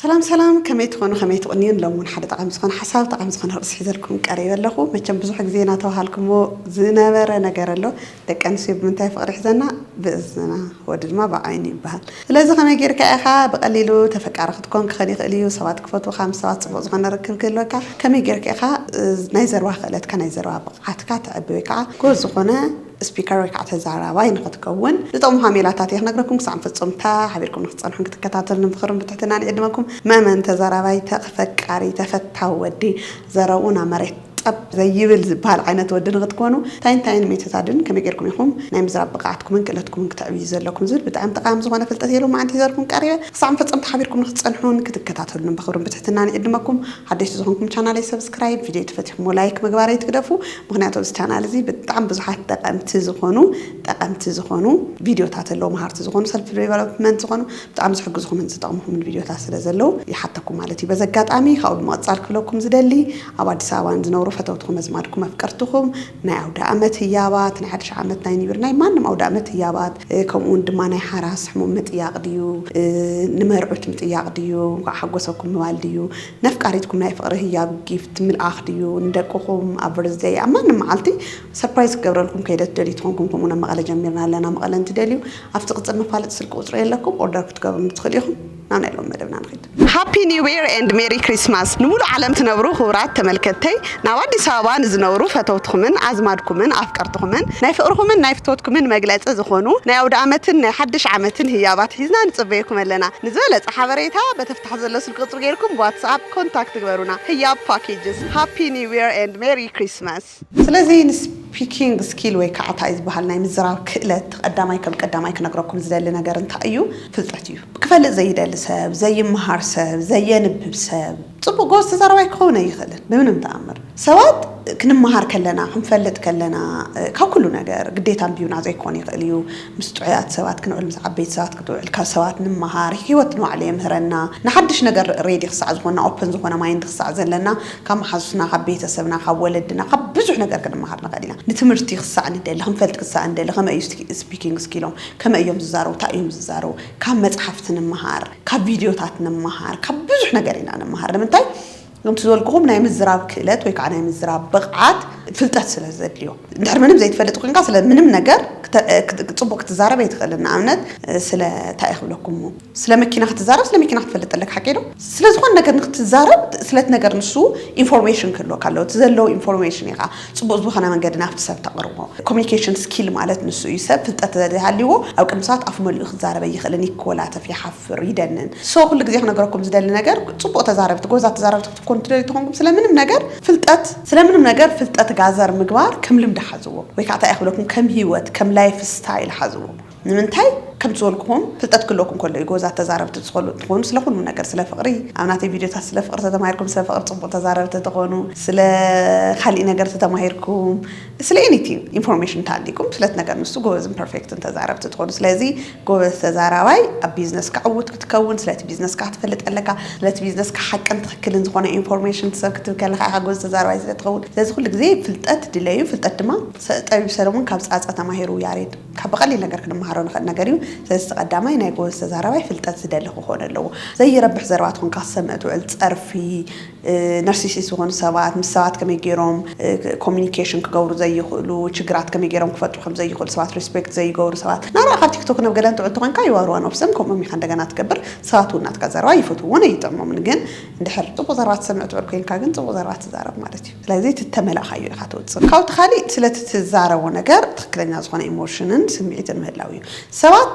ሰላም ሰላም ከመይ ትኾኑ ከመይ ትቕንዩን ሎሚ ውን ሓደ ጠቓሚ ዝኾነ ሓሳብ ጠቓሚ ዝኾነ ርእሲ ሒዘልኩም ቀሪበ ኣለኹ መቸም ብዙሕ ግዜ ናተባሃልኩሞ ዝነበረ ነገር ኣሎ ደቂ ኣንስትዮ ብምንታይ ፍቕሪ ይሕዘና ብእዝና ወዲ ድማ ብዓይኑ ይበሃል ስለዚ ከመይ ጌርካ ኢኻ ብቐሊሉ ተፈቃሪ ክትኮን ክኸን ይኽእል እዩ ሰባት ክፈትዉኻ ምስ ሰባት ጽቡቕ ዝኾነ ርክብ ክህልወካ ከመይ ጌርካ ኢኻ ናይ ዘርባ ክእለትካ ናይ ዘርባ ብቕዓትካ ተዕቢ ወይ ከዓ ጎበዝ ዝኾነ ስፒከር ወይ ከዓ ተዛራባይ ንኽትከውን ዝጠቕሙኻ ሜላታት እየ ክነግረኩም። ክሳዕ ፍፁምታ ሓቢርኩም ንኽትፀንሑን ክትከታተሉን ምኽርን ብትሕትና ንዕድመኩም። መእመን ተዛራባይ ተኽ ፈቃሪ ተፈታዊ ወዲ ዘረብኡ ናብ መሬት ጠብ ዘይብል ዝበሃል ዓይነት ወዲ ንኽትኮኑ እንታይ እንታይ ንምይትታድን ከመይ ገይርኩም ኢኹም ናይ ምዝራብ ብቕዓትኩምን ክእለትኩምን ክተዕብዩ ዘለኩም ዝብል ብጣዕሚ ጠቓሚ ዝኾነ ፍልጠት እየ ሎማዓንቲ ሒዘልኩም ቀሪበ። ክሳዕ ፍፅምታ ሓቢርኩም ንኽትፀንሑን ክትከታተሉን ብኽብርን ብትሕትና ንዕድመኩም። ሓደሽቲ ዝኾንኩም ቻናለይ ሰብስክራይብ ቪድዮ ተፈቲኹሞ ላይክ ምግባረይ ትግደፉ ምኽንያቱ ኣብዚ ቻናል እዚ ብጣዕሚ ብዙሓት ጠቀምቲ ዝኾኑ ጠቀምቲ ዝኾኑ ቪድዮታት ኣለዉ መሃርቲ ዝኾኑ ሰልፍ ዴቨሎፕመንት ዝኾኑ ብጣዕሚ ዝሕግዝኹምን ዝጠቅምኹምን ቪድዮታት ስለ ዘለዉ ይሓተኩም ማለት እዩ በዚ ኣጋጣሚ ካብኡ ብምቅጻል ክብለኩም ዝደሊ ኣብ ኣዲስ ኣበባ ንዝነብሩ ፈተውትኹም ኣዝማድኩም ኣፍቀርትኹም ናይ ኣውደኣመት ህያባት፣ ናይ ሓድሽ ዓመት ናይ ኒው ይር ናይ ማንም ኣውደኣመት ህያባት ከምኡውን ድማ ናይ ሓራስ ሕሙም ምጥያቕ ድዩ ንመርዑት ምጥያቕ ድዩ እንኳዕ ሓጎሰኩም ምባል ድዩ ነፍቃሪትኩም ናይ ፍቕሪ ህያብ ጊፍት ምልኣኽ ድዩ ንደቅኹም ኣብ በርዝደይ ኣብ ማንም መዓልቲ ሰርፕራይዝ ክገብረልኩም ከይደ ትደልዩ ተኾንኩም ከምኡውን ኣብ መቐለ ጀሚርና ኣለና መቐለ እንትደልዩ ኣብቲ ቅጽል መፋለጢ ስልኪ ቁጽሪ የለኩም ኦርደር ክትገብሩኒ ትኽእሉ ኢኹም። ናብ ናይ ሎም መደብና ንኺድ። ሃፒ ኒው ኢር ኤንድ ሜሪ ክሪስማስ ንሙሉእ ዓለም ትነብሩ ክቡራት ተመልከትተይ ናብ ኣዲስ ኣበባ ንዝነብሩ ፈተውትኹምን ኣዝማድኩምን ኣፍቀርትኹምን ናይ ፍቅርኹምን ናይ ፍትወትኩምን መግለጺ ዝኾኑ ናይ ኣውደኣመትን ናይ ሓድሽ ዓመትን ህያባት ሒዝና ንጽበየኩም ኣለና ንዝበለጸ ሓበሬታ በቲ ኣብታሕቲ ዘሎ ስልኪ ቁጽሪ ጌርኩም ብዋትስኣፕ ኮንታክት ግበሩና ህያብ ፓኬጅስ ሃፒ ኒው ኢር ኤንድ ሜሪ ክሪስማስ ስለዚ ንስፒኪንግ ስኪል ወይ ካዓ ታይ ዝባሃል ናይ ምዝራብ ክእለት ቐዳማይ ከም ቀዳማይ ክነግረኩም ዝደሊ ነገር እንታይ እዩ ፍልጠት እዩ ክፈልጥ ዘይደሊ ሰብ ዘይማሃር ሰብ ዘየንብብ ሰብ ፅቡቅ ጎበዝ ተዛራባይ ክኸውን ኣይኽእልን ብምንም ታኣምር ሰባት ክንማሃር ከለና ክንፈልጥ ከለና ካብ ኩሉ ነገር ግዴታ ኣንቢብና ዘይኮን ይኽእል እዩ ምስ ጥዑያት ሰባት ክንውዕል ምስ ዓበይቲ ሰባት ክትውዕል ካብ ሰባት ንማሃር ሂወት ንባዕሉ የምህረና ንሓድሽ ነገር ሬዲ ክሳዕ ዝኾንና ኦፕን ዝኾነ ማይንድ ክሳዕ ዘለና ካብ መሓዙትና፣ ካብ ቤተሰብና፣ ካብ ወለድና፣ ካብ ብዙሕ ነገር ክንመሃር ንኽእል ኢና። ንትምህርቲ ክሳዕ ንደሊ፣ ክንፈልጥ ክሳዕ ንደሊ፣ ከመይ እዩ ስፒኪንግ ስኪሎም፣ ከመይ እዮም ዝዛረቡ፣ እንታይ እዮም ዝዛረቡ፣ ካብ መጻሕፍቲ ንመሃር፣ ካብ ቪድዮታት ንመሃር፣ ካብ ብዙሕ ነገር ኢና ንመሃር። ንምንታይ? ከምቲ ዝበልኩኹም ናይ ምዝራብ ክእለት ወይ ከዓ ናይ ምዝራብ ብቕዓት ፍልጠት ስለ ዘድልዮ። እንድሕር ምንም ዘይትፈልጥ ኮይንካ ስለ ምንም ነገር ጽቡቕ ክትዛረብ ኣይትኽእልን። ንኣብነት ስለ እንታይ እየ ክብለኩም እሞ ስለ መኪና ክትዛረብ ስለ መኪና ክትፈልጥ ኣለካ ሓቀይ ዶ ስለ ዝኮነ ነገር ንክትዛረብ ስለቲ ነገር ንሱ ኢንፎርሜሽን ክህልወካ ኣለዎ እቲ ዘለዎ ኢንፎርሜሽን ኢካ ጽቡቅ ዝኮነ መንገዲ ናብቲ ሰብ ተቅርቦ ኮሙኒኬሽን ስኪል ማለት ንሱ እዩ ሰብ ፍልጠት ተዘይሃልይዎ ኣብ ቅድሚ ሰባት ኣፉ መሊኡ ክዛረብ ኣይክእልን ይኮላተፍ ይሓፍር ይደንን so ኩሉ ግዜ ክነግረኩም ዝደሊ ነገር ጽቡቅ ተዛረብቲ ጎበዛት ተዛረብቲ ክትኮኑ ትደልዩ ተኮንኩም ስለ ምንም ነገር ፍልጠት ስለ ምንም ነገር ፍልጠት ጋዘር ምግባር ከም ልምዲ ሓዝዎ ወይ ካኣ ታይ እየ ክብለኩም ከም ሂወት ከም ላይፍ ስታይል ሓዝዎ። ንምንታይ ከም ዝወልኩኹም ፍልጠት ክለኩም ከሎ እዩ ጎዛ ተዛረብቲ ትኸሉ እንትኾኑ ስለ ኩሉ ነገር ስለ ፍቅሪ ኣብ ናተይ ቪድዮታት ስለ ፍቅሪ ተተማሂርኩም ስለ ፍቅሪ ፅቡቅ ተዛረብቲ ተኾኑ ስለ ካሊእ ነገር ተተማሂርኩም ስለ ኤኒቲንግ ኢንፎርሜሽን ተሃሊኩም ስለቲ ነገር ንሱ ጎበዝን ፐርፌክትን ተዛረብቲ ትኾኑ ስለዚ ጎበዝ ተዛራባይ ኣብ ቢዝነስካ ዕውት ክትከውን ስለቲ ቢዝነስካ ክትፈልጥ ኣለካ ስለቲ ቢዝነስካ ሓቅን ትኽክልን ዝኾነ ኢንፎርሜሽን ሰብ ክትብ ከለካ ኢኻ ጎበዝ ተዛራባይ ስለ ትኸውን ስለዚ ኩሉ ግዜ ፍልጠት ድለዩ ፍልጠት ድማ ጠቢብ ሰለሙን ካብ ፃፀ ተማሂሩ ያሬድ ካብ ብቐሊል ነገር ክንመሃሮ ንኽእል ነገር እዩ። ስለዚ እቲ ቀዳማይ ናይ ጎበዝ ተዛራባይ ፍልጠት ዝደሊ ክኾን ኣለዎ። ዘይረብሕ ዘረባ ትኾንካ ክትሰምዕ ትውዕል ጸርፊ፣ ነርሲሲስት ዝኾኑ ሰባት፣ ምስ ሰባት ከመይ ጌሮም ኮሚኒኬሽን ክገብሩ ዘይኽእሉ፣ ችግራት ከመይ ጌሮም ክፈትሑ ከም ዘይኽእሉ፣ ሰባት ሪስፔክት ዘይገብሩ ሰባት፣ ናብራ ካብ ቲክቶክ ናብ ገለ እንትውዕል ተኾንካ ይዋርዋ ነብሶም ከምኦም ኢኻ እንደገና ትገብር፣ ሰባት እውን ናትካ ዘረባ ይፈትውዎን ኣይጥዕሞምን ግን እንድሕር ጽቡቕ ዘረባ ትሰምዕ ትውዕል ኮይንካ ግን ጽቡቕ ዘረባ ትዛረብ ማለት እዩ። ስለዚ እቲ እተመላእካዮ ኢኻ ትውጽእ። ካብኡ እቲ ካልእ ስለቲ እትዛረቦ ነገር ትኽክለኛ ዝኾነ ኢሞሽንን ስምዒትን ምህላው እዩ። ሰባት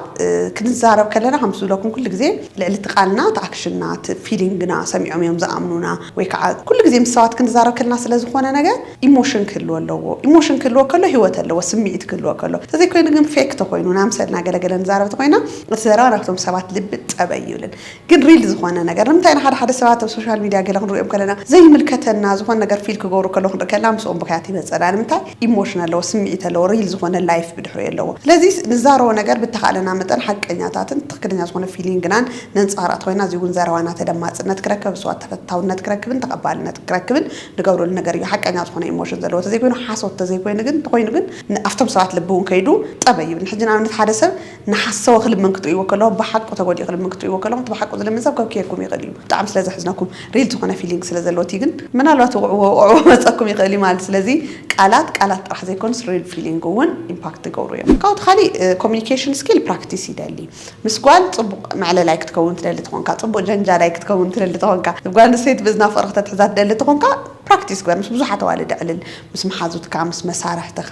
ክንዛረብ ከለና ከምቲ ዝብለኩም ኩሉ ግዜ ልዕሊ እቲ ቃልና እቲ ኣክሽንና እቲ ፊሊንግና ሰሚዖም እዮም ዝኣምኑና ወይ ከዓ ኩሉ ግዜ ምስ ሰባት ክንዛረብ ከለና ስለ ዝኾነ ነገር ኢሞሽን ክህልዎ ኣለዎ። ኢሞሽን ክህልዎ ከሎ ህይወት ኣለዎ ስምዒት ክህልዎ ከሎ። ተዘይኮይኑ ግን ፌክ ተኾይኑ ንኣምሰልና ገለ ገለ ንዛረብ ተኾይና እቲ ዘረባ ናብቶም ሰባት ልቢ ጠበይ ይብልን ግን ሪል ዝኾነ ነገር ንምንታይ ኢና ሓደ ሓደ ሰባት ኣብ ሶሻል ሚድያ ገለ ክንርእዮም ከለና ዘይምልከተና ዝኾነ ነገር ፊል ክገብሩ ከለው ክንርኢ ከለና ምስኦም ብኽያት ይመጸና ንምንታይ ኢሞሽን ኣለዎ ስምዒት ኣለዎ ሪል ዝኾነ ላይፍ ብድሕሪኡ ኣለዎ ስለዚ ንዛረቦ ነገር ብተኻእለና መጠን ሓቀኛታትን ትኽክለኛ ዝኾነ ፊሊንግናን ነንጸባርቕ ተኾይና እዚ እውን ዘረባና ተደማጽነት ክረክብ ኣብ ሰባት ተፈታውነት ክረክብን ተቐባልነት ክረክብን ንገብረሉ ነገር እዩ ሓቀኛ ዝኾነ ኢሞሽን ዘለዎ ተዘይኮይኑ ሓሶት ተዘይኮይኑ ግን ተኾይኑ ግን ኣብቶም ሰባት ልቢ እውን ከይዱ ጠበይ ይብል ንሕጂ ንኣብነት ሓደ ሰብ ንሓሰወ ክልምን ክትርእይዎ ከለኩም ብሓቁ ተጎዲኡ ክልምን ክትርእይዎ ከለኩም እቲ ብሓቁ ዝልምን ሰብ ከብክየኩም ይክእል እዩ ብጣዕሚ ስለ ዘሕዝነኩም ሪል ዝኮነ ፊሊንግ ስለ ዘለዎ እቲ ግን ምናልባት ውቅዕዎ ውቅዕዎ ክመጸኩም ይክእል እዩ ማለት ስለዚ ቃላት ቃላት ጥራሕ ዘይኮኑስ ሪል ፊሊንግ ውን ኢምፓክት ዝገብሩ እዮም ካብኡ እቲ ካሊእ ኮሙኒኬሽን ስኪል ፕራክቲስ ይደሊ ምስ ጓል ጽቡቅ መዕለላይ ክትከውን ትደሊ ተኮንካ ጽቡቅ ጀንጃላይ ክትከውን ትደሊ ተኮንካ ብ ጓል ኣንስተይቲ ብእዝና ፍቅሪ ክተትሕዛ ትደሊ ተኮንካ ፕራክቲስ ግበር ምስ ብዙሓት ኣዋልድ ኣዕልል ምስ መሓዙትካ ምስ መሳርሕትኻ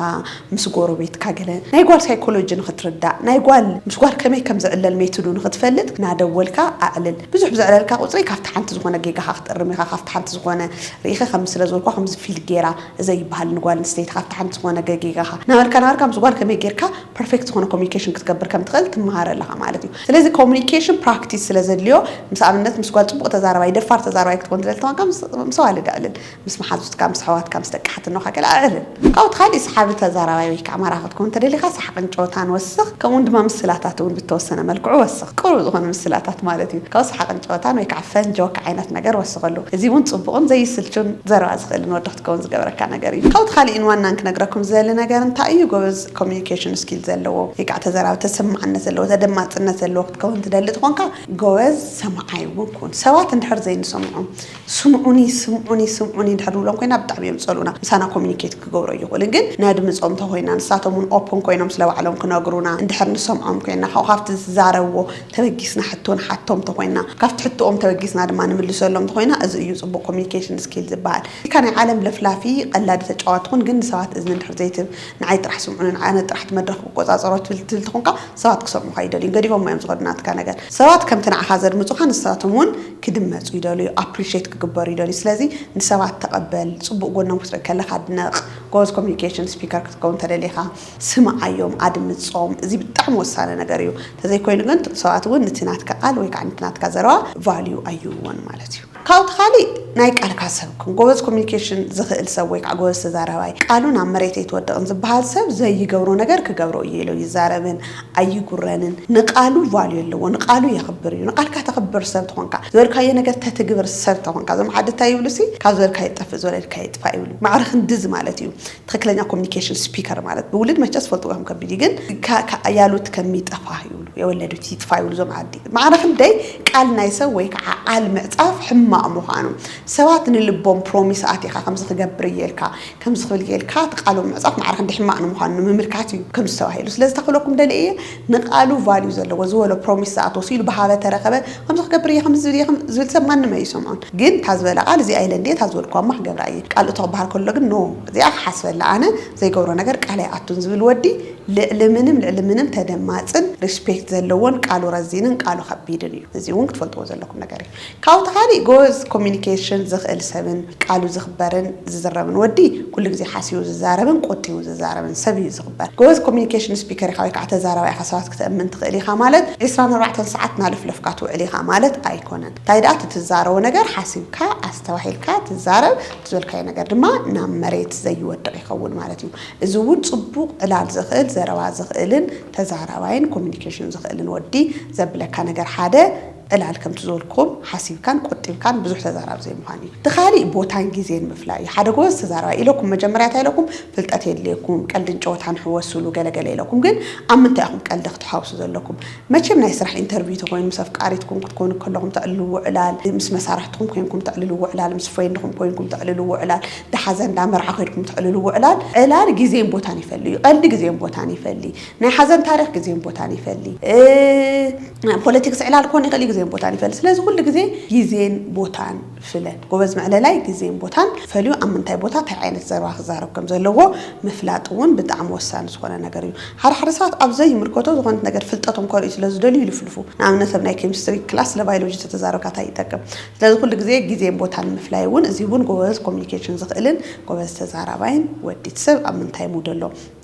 ምስ ጎሮቤትካ ገለ ናይ ጓል ሳይኮሎጂ ንኽትርዳእ ናይ ጓል ምስ ጓል ከመይ ከም ዝዕለል ሜትዱ ንኽትፈልጥ ናደወልካ ኣዕልል ብዙሕ ብዘዕለልካ ቁጽሪ ካብቲ ሓንቲ ዝኾነ ጌጋኻ ክትእርም ኢኻ ካብቲ ሓንቲ ዝኾነ ርኢኺ ከምዚ ስለ ዝበልኩዋ ከምዚ ፊል ጌራ እዘይ ይብሃል ንጓል ኣንስተይቲ ካብቲ ሓንቲ ዝኾነ ገጌጋኻ ናበልካ ናበልካ ምስ ጓል ከመይ ጌርካ ፐርፌክት ዝኾነ ኮሙኒኬሽን ክትገብር ከም ትኽእል ትመሃር ኣለኻ ማለት እዩ። ስለዚ ኮሙኒኬሽን ፕራክቲስ ስለ ዘድልዮ ምስ ኣብነት ምስ ጓል ጽቡቕ ተዛራባይ ደፋር ተዛራባይ ክትኮን ትደሊ ተኾንካ ምስ ኣዋልድ ኣዕልል፣ ምስ መሓዙትካ፣ ምስ ኣሕዋትካ፣ ምስ ደቂ ሓትኖኻ ገለ ኣዕልል። ካብኡ እቲ ካሊእ ሰሓቢ ተዛራባይ ወይ ከኣ ማራኺ ክትኮን እንተደሊኻ ሰሓቕን ጨወታን ወስኽ ከምኡ ውን ድማ ምስላታት ውን ብተወሰነ መልክዑ ወስኽ። ቅሩብ ዝኾነ ምስላታት ማለት እዩ። ካብኡ ሰሓቕን ጨወታን ወይ ከኣ ፈን፣ ጆክ፣ ዓይነት ነገር ወስኸሉ። እዚ ውን ጽቡቕን ዘይስልቹን ዘረባ ዝኽእልን ወዲ ክትከውን ዝገብረካ ነገር እዩ። ካብኡ እቲ ካሊእን ዋናን ክነግረኩም ዝደሊ ነገር እንታይ እዩ ጎበዝ፣ ኮሙኒኬሽን ስኪል ዘለዎ ወይ ከዓ ተዘራቢ ተሰማዕነት ዘለዎ ተደማፅነት ዘለዎ ክትከውን ትደሊ ትኾንካ ጎበዝ ሰማዓይ እውን ኩን። ሰባት እንድሕር ዘይንሰምዖም ስምዑኒ ስምዑኒ ስምዑኒ እንድሕር ንብሎም ኮይና ብጣዕሚ እዮም ዝፀልኡና ምሳና ኮሙኒኬት ክገብሩ ኣይኽእሉን ግን ነድምፆም እንተኾይና ንሳቶም እውን ኦፕን ኮይኖም ስለ ባዕሎም ክነግሩና እንድሕር ንሰምዖም ኮይና ካብኡ ካብቲ ዝዛረብዎ ተበጊስና ሕቶ ንሓቶም እንተኾይና ካብቲ ሕቶኦም ተበጊስና ድማ ንምልሰሎም እንተኾይና እዚ እዩ ፅቡቕ ኮሙኒኬሽን ስኪል ዝበሃል ኢልካ ናይ ዓለም ለፍላፊ ቐላዲ ተጫዋቲ ኩን ግን ንሰባት እዝኒ እንድሕር ዘይትህብ ንዓይ ጥራሕ ስምዑኒ ንዓይ ኣነ ጥራሕ እቲ መድረኽ ክቆጻጸሮ ትብል ትብል ተኾንካ ሰባት ክሰምዑኻ ኣይደልዩን ገዲፎሞ እዮም ዝኸዱ ናትካ ነገር ሰባት ከምቲ ንዓኻ ዘድምጹኻ ንሳቶም ውን ክድመጹ ይደልዩ ኣፕሪሸት ክግበሩ ይደልዩ ስለዚ ንሰባት ተቐበል ጽቡቕ ጎኖም ክትርኢ ከለኻ ኣድንቕ ጎበዝ ኮሚኒኬሽን ስፒከር ክትከውን ተደሊኻ ስምዓዮም ኣድምጾም እዚ ብጣዕሚ ወሳኒ ነገር እዩ ተዘይኮይኑ ግን ሰባት ውን ንቲ ናትካ ቃል ወይ ከዓ ንቲ ናትካ ዘረባ ቫልዩ ኣይህብዎን ማለት እዩ። ካብኡ እቲ ካሊእ ናይ ቃልካ ሰብ ኩን። ጎበዝ ኮሚኒኬሽን ዝኽእል ሰብ ወይ ከዓ ጎበዝ ተዛራባይ፣ ቃሉ ናብ መሬት ኣይትወድቕን ዝበሃል ሰብ ዘይገብሮ ነገር ክገብሮ እየ ኢሎ ይዛረብን ኣይጉረንን። ንቃሉ ቫልዩ ኣለዎ፣ ንቃሉ የኽብር እዩ። ንቃልካ ተኽብር ሰብ ተኾንካ፣ ዝበልካዮ ነገር ተትግብር ሰብ ተኾንካ፣ እዞም ዓዲ እንታይ ይብሉ ሲ ካብ ዝበልካዮ ጠፍእ ዝበለልካዮ ይጥፋእ ይብሉ። ማዕረ ክንድዚ ማለት እዩ። ትክክለኛ ኮሚኒኬሽን ስፒከር ማለት ብውልድ መቸስ ፈልጥዎ ከም ከቢድ ግን ያሉት ከሚጠፋ ይብሉ የወለዱት ይጥፋ ይብሉ ዞም ዓዲ ማዕረ ክንደይ ቃል ናይ ሰብ ወይ ከዓ ቃል ምዕፃፍ ሕማቕ ምዃኑ ሰባት ንልቦም ፕሮሚስ ኣቲኻ ከምዚ ክገብር እየ ኢልካ ከምዚ ክብል እየ ኢልካ እቲ ቃሎም ምዕፃፍ ማዕረ ክንደይ ሕማቕ ንምዃኑ ንምምልካት እዩ ከምዚ ተባሂሉ ስለዚ ተክብለኩም ደልየ እየ ንቃሉ ቫልዩ ዘለዎ ዝበሎ ፕሮሚስ ዝኣትዎ ስኢሉ ብሃበ ተረኸበ ከምዚ ክገብር እየ ከምዚ ዝብል እየ ዝብል ሰብ ማንም ኣይሰምዖን ግን እታ ዝበላ ቃል እዚኣ ኢለ እንድየ እታ ዝበልኩዋማ ክገብራ እየ ቃል እቶ ክበሃል ከሎ ግን ን እዚኣ ክሓስበላ ኣነ ዘይገብሮ ነገር ቃል ኣይኣቱን ዝብል ወዲ ልዕሊ ምንም ልዕሊ ምንም ተደማጽን ሪስፔክት ዘለዎን ቃሉ ረዚንን ቃሉ ከቢድን እዩ እዚ ውን ክትፈልጥዎ ዘለኩም ነገር እዩ። ካብኡ ተካሊእ ጎበዝ ኮሚኒኬሽን ዝክእል ሰብን ቃሉ ዝክበርን ዝዝረብን ወዲ ኩሉ ግዜ ሓሲቡ ዝዛረብን ቆጢቡ ዝዛረብን ሰብ እዩ ዝክበር ጎበዝ ኮሚኒኬሽን ስፒከር ኢካ ወይ ካዓ ተዛራባይ ኢካ ሰባት ክተእምን ትክእል ኢካ ማለት ዕስራን ኣርባዕተን ሳዓት ናለፍለፍካ ትውዕል ኢካ ማለት ኣይኮነን እንታይ ዳኣ እቲ ትዛረቦ ነገር ሓሲብካ ኣስተባሂልካ ትዛረብ እቲ ዝበልካዮ ነገር ድማ ናብ መሬት ዘይወድቅ ይከውን ማለት እዩ እዚ እውን ፅቡቅ ዕላል ዝክእል ዘረባ ዝክእልን ተዛራባይን ኮሚኒኬሽን ዝክእልን ወዲ ዘብለካ ነገር ሓደ ዕላል ከምቲ ዝበልኩኹም ሓሲብካን ቆጢብካን ብዙሕ ተዛራቢ ዘይምዃን እዩ። እቲ ካሊእ ቦታን ጊዜን ምፍላይ እዩ። ሓደ ጎበዝ ተዛራባይ ኢለኩም መጀመርያ እንታይ ኢለኩም ፍልጠት የድልየኩም ቀልድን ጨወታን ሕወሱሉ ገለ ገለ ኢለኩም ግን ኣብ ምንታይ ኢኹም ቀልዲ ክትሓውሱ ዘለኩም መቸም ናይ ስራሕ ኢንተርቪው ተኾይኑ ምስ ኣፍቃሪትኩም ክትኮኑ ከለኹም ተዕልልዎ ዕላል ምስ መሳርሕትኹም ኮንኩም ተዕልልዎ ዕላል ምስ ፍሬንድኹም ኮንኩም ተዕልልዎ ዕላል እንዳ ሓዘን እንዳ መርዓ ከድኩም ተዕልልዎ ዕላል ዕላል ጊዜን ቦታን ይፈሊ እዩ። ቀልዲ ጊዜን ቦታን ይፈሊ። ናይ ሓዘን ታሪኽ ግዜን ቦታን ይፈሊ። ናይ ፖለቲክስ ዕላል ክኾን ይኽእል እዩ፣ ግዜን ቦታን ይፈሊ። ስለዚ ኩሉ ግዜ ግዜን ቦታን ፍለ። ጎበዝ መዕለላይ ግዜን ቦታን ፈልዩ ኣብ ምንታይ ቦታ እንታይ ዓይነት ዘረባ ክዛረብ ከም ዘለዎ ምፍላጥ እውን ብጣዕሚ ወሳኒ ዝኾነ ነገር እዩ። ሓደ ሓደ ሰባት ኣብ ዘይምልከቶ ዝኾነት ነገር ፍልጠቶም ከርእዩ ስለ ዝደልዩ ይልፍልፉ። ንኣብነት ኣብ ናይ ኬሚስትሪ ክላስ ስለ ባይሎጂ እንተተዛረብካ እንታይ ይጠቅም? ስለዚ ኩሉ ግዜ ግዜን ቦታን ምፍላይ እውን እዚ እውን ጎበዝ ኮሚኒኬሽን ዝኽእልን ጎበዝ ተዛራባይን ወዲት ሰብ ኣብ ምንታይ ሙድ ኣሎ?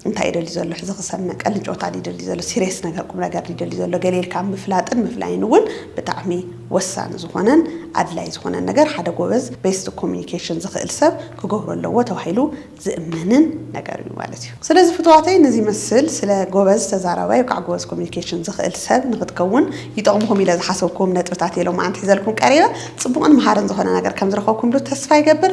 እንታይ ይደሊ ዘሎ ሕዚ ክሰምዕ ቀልድን ጨወታን ድዩ ይደሊ ዘሎ ሲርየስ ነገር ቁምነገር ድዩ ይደሊ ዘሎ ገለ ኢልካ ምፍላጥን ምፍላይን እውን ብጣዕሚ ወሳኒ ዝኾነን ኣድላይ ዝኾነን ነገር ሓደ ጎበዝ ቤስት ኮሙኒኬሽን ዝኽእል ሰብ ክገብሮ ኣለዎ ተባሂሉ ዝእመንን ነገር እዩ ማለት እዩ። ስለዚ ፍቱዋተይ ንዚ ይመስል ስለ ጎበዝ ተዛራባይ ወይ ከዓ ጎበዝ ኮሙኒኬሽን ዝኽእል ሰብ ንኽትከውን ይጠቕሙኹም ኢለ ዝሓሰብኩዎም ነጥብታት እየ ሎማዓንቲ ሒዘልኩም ቀሪበ። ፅቡቕን መሃርን ዝኾነ ነገር ከምዝረኸብኩምሉ ተስፋ ይገብር።